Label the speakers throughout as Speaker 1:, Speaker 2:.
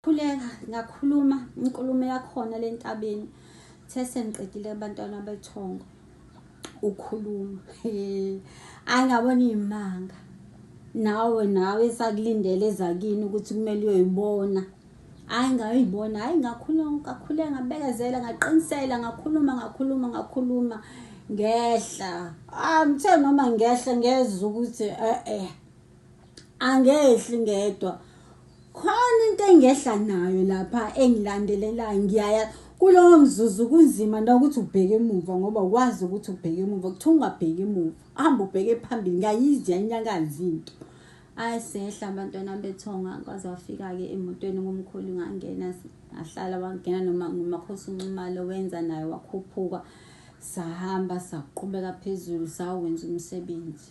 Speaker 1: Khuleka ngakhuluma inkulumo yakhona lentabeni the sengiqedile abantwana bethongo ukhuluma ayi ngabona imanga nawe nawe esakulindele ezakini ukuthi kumele uyoyibona hayi ngayibona hayi ngakhuluma ngakhuleka ngabekezela ngaqinisela ngakhuluma ngakhuluma ngakhuluma ngehla amthe ah, noma ngehla ngezwa ukuthi eh eh angehli ngedwa khona into engehla nayo lapha engilandelelayo ngiyaya kulowo mzuzu kunzima nokuthi ubheke emuva ngoba ukwazi ukuthi ubheke emuva kuthiwa ungabheki emuva hamba ubheke phambili ngayizwa inyakazi into ayi sehla abantwana bethonga kwaze wafika-ke emotweni ngomkhulu ngangena ngahlala wangena noma ngumakhosi unxumalo wenza naye wakhuphuka sahamba saqhubeka phezulu sawenza umsebenzi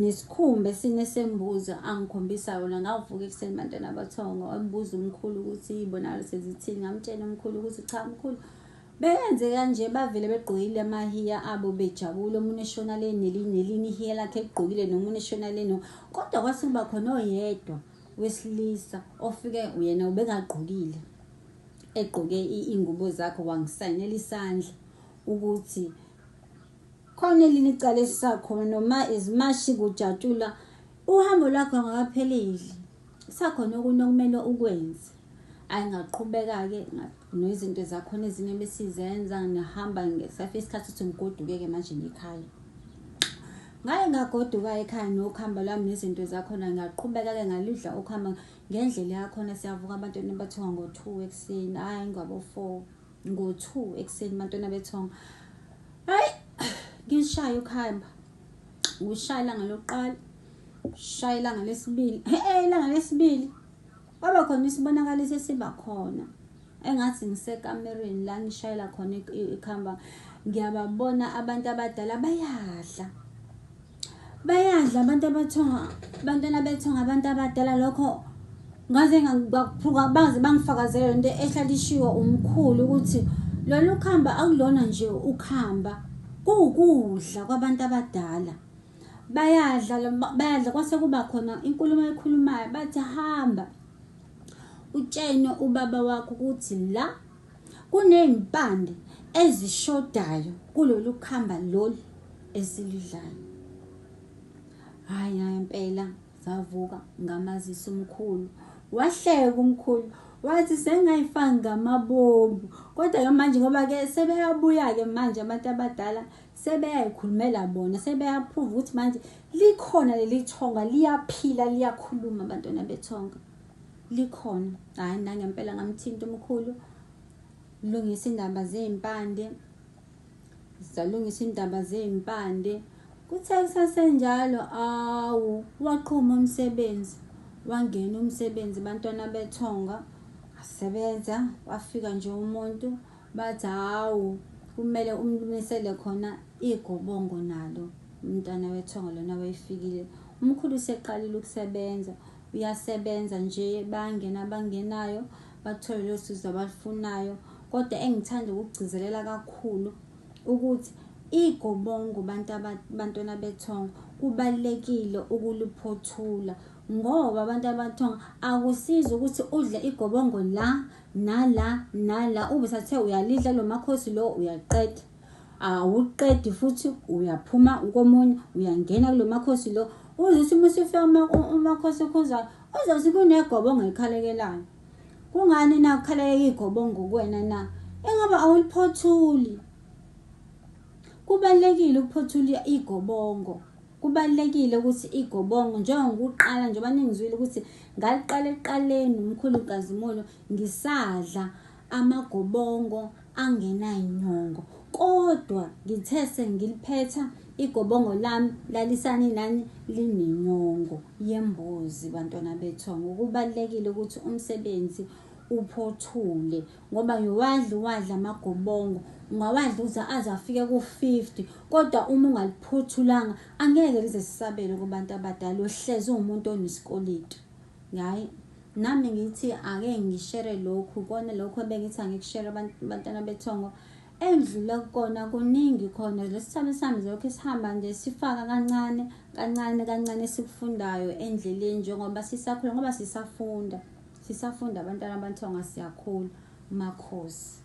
Speaker 1: Nesikhumba esine sembuzi angikhombisa yona ngavuka ekuseni bantwana bathongo embuza umkhulu ukuthi ibonakalo sezithini ngamtshela umkhulu ukuthi cha mkhulu Beyenze kanje bavele begqokile amahiya abo bejabule omunye eshona le nelinye ihiya lakhe egqokile nomunye eshona le no kodwa kwase kuba khona oyedwa wesilisa ofike yena ubengagqokile egqoke ingubo zakhe wangisayinela isandla ukuthi Khona elinye icala esisakhona noma izimashi kujatshulwa uhambo lwakho ngakaphelile. Sakhona okunye okumele ukwenze. Ayi ngaqhubeka-ke nezinto zakhona ezinye ebesizenza ngihamba ngesafika isikhathi ukuthi ngigoduke-ke manje ngikhaya. Ngaye ngagoduka ekhaya nokuhamba lwami nezinto zakhona ngaqhubeka-ke ngaludla ukuhamba ngendlela yakhona siyavuka abantwana bathiwa ngo-two ekuseni, hhayi ngabo-four. ngo-2 ekuseni bantwana bethonga hayi ngishaya ukuhamba ngishaya ilanga lokuqala shaya ilanga lesibili hey ilanga lesibili kwaba khona isibonakaliso esiba khona engathi ngisekamereni la ngishayela khona ikuhamba ngiyababona abantu abadala bayadla bayadla abantu abathonga abantwana bethonga abantu abadala lokho ngaze ngakuphuka baze bangifakazele lento ehlala ishiwo umkhulu ukuthi lolu khamba akulona nje ukhamba kuwukudla kwabantu abadala bayadla bayadla kwase kuba khona inkulumo ekhulumayo bathi hamba utshene ubaba wakho ukuthi la Kunezimpande ezishodayo kulolu khamba lolu esiludlayo. Hhayi hhayi impela zavuka ngamazisa umkhulu. Wahleka umkhulu wathi sengayifaki ngamabomu kodwa-ke manje ngoba-ke sebeyabuya-ke manje abantu abadala sebeyayikhulumela bona sebeyaphuva ukuthi manje likhona leli thonga liyaphila liyakhuluma abantwana bethonga likhona hayi nangempela ngamthinta umkhulu lungisa indaba zezimpande zalungisa indaba zezimpande kuthe kusasenjalo awu waqhuma umsebenzi wangena umsebenzi bantwana bethonga asebenza wafika nje umuntu bathi hawu kumele umlumisele khona igobongo nalo umntwana wethonga lona wayefikile umkhulu useqalile ukusebenza uyasebenza nje bayangena abangenayo bathole lelo sizo abalufunayo kodwa engithanda ukugcizelela kakhulu ukuthi igobongo bantu abantwana bethongo kubalekile ukuliphothula ngoba abantu abathonga akusiza ukuthi udle igobongo la nala nala ube sathe uyalidla lo makhosi lo uyaqeda awuqedi futhi uyaphuma komunye uyangena kulo makhosi lo uze uthi uma usufika umakhosi okhuzayo uzothi kunegobo ongayikhalekelayo kungani na ukhalekeka igobo ngokuwena na ingoba awuliphothuli kubalulekile ukuphothula igobongo kubalulekile ukuthi igobongo njengokuqala njengoba ningizwile ukuthi ngaliqala ekuqaleni umkhulu kazimulo ngisadla amagobongo angenanyongo kodwa ngithe sengiliphetha igobongo lami lalisani nani linenyongo yembuzi bantwana bethu ngokubalekile ukuthi umsebenzi uphothule ngoba ngiwadla wadla amagobongo ungawadla uze aze afike ku-50 kodwa uma ungaliphothulanga angeke lize sisabele kubantu abadala uhlezi uwumuntu onesikoleti ngayi Nami ngithi ake ngishere lokhu kona lokhu ebengithi angikushere abantwana bethongo endlule kukona kuningi khona lesithambi sami lokho esihamba nje sifaka kancane kancane kancane esikufundayo endleleni njengoba sisakhula ngoba sisafunda sisafunda abantwana abanthonga siyakhula makhosi